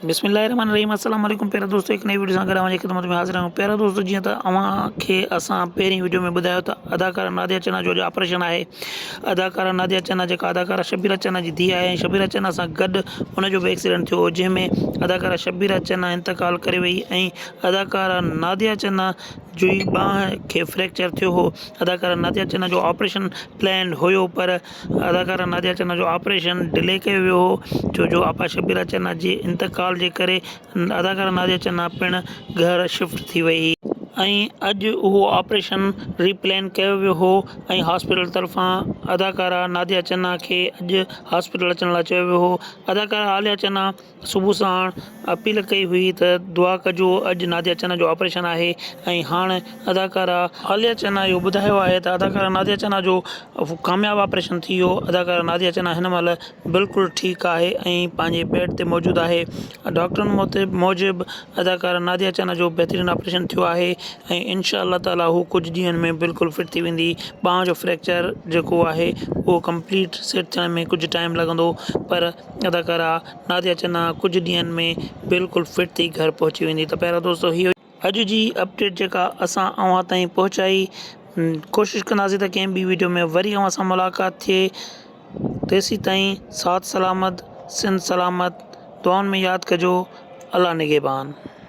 بسم الله الرحمٰن الرحيم السلام عليڪم پيارا دوستو هڪ نئين وڊيو سان گڏ اوهان جي خدمت ۾ حاضر آهيون پيارا دوستو جيئن ته اوهان کي اسان پهرين وڊيو ۾ ٻڌايو ته اداڪارا ناديا چنا جو اڄ آپريشن آهي اداڪارا ناديا چنا جيڪا اداڪارا شبيرا چنا جي ڌيء آهي ۽ شبيرا چنا سان گڏ ان جو به ايڪسيڊنٽ ٿيو هو جنهن ۾ اداڪارا شبيرا چنا انتقال ڪري وئي ۽ اداڪارا ناديا چنا جي ٻانهن کي فريڪچر ٿيو هو اداڪارا ناديا چنا جو آپريشن پلينڊ هيو پر اداڪارا ناديا چنا جو آپريشن ڊلي ڪيو ويو هو ڇو جو آپا شبيرا چنا جي انتقال جي ڪري اداڪارا ناديا چنا پڻ گهر شفٽ ٿي وئي هئي ۽ اڄ اهو آپريشن ري پلين ڪيو ويو هو ۽ هاسپيٽل طرفان اداڪارا ناديا چنا کي اڄ هاسپيٽل اچڻ لاء چيو ويو هو اداڪارا عاليا چنا. صبح ساڻ اپيل ڪئي هئي ته دعا ڪجو اڄ ناديا چنا جو آپريشن آهي ۽ هاڻ اداڪارا عاليا چنا اهو ٻڌايو آهي ته اداڪارا ناديا چنا جو ڪامياب آپريشن ٿي ويو اداڪارا ناديا چنا هن مهل بلڪل ٺيڪ آهي ۽ پنهنجي بيڊ تي موجود آهي ڊاڪٽرن موجب اداڪارا ناديا چنا جو بهترين آپريشن ٿيو آهي ۽ انشاء الله تعالي هو ڪجهه ڏينهن ۾ بلڪل فٽ ٿي ويندي ٻانهن جو فريڪچر جيڪو آهي اهو ڪمپليٽ سيٽ ٿيڻ ۾ ڪجهه ٽائيم لڳندو پر اداڪاره ناديا چنا ڪجهه ڏينهن ۾ بلڪل فٽ ٿي گهر پهچي ويندي ته پيارا دوستو هي هئي اڄ جي اپڊيٽ جيڪا اسان اوهان تائين پهچائي ڪوشش ڪنداسين ته ڪنهن ٻي ويڊيو ۾ وري اوهان سان ملاقات ٿئي تيسيتائين ساٿ سلامت سنڌ سلامت دعائن ۾ ياد ڪجو الله نگهبان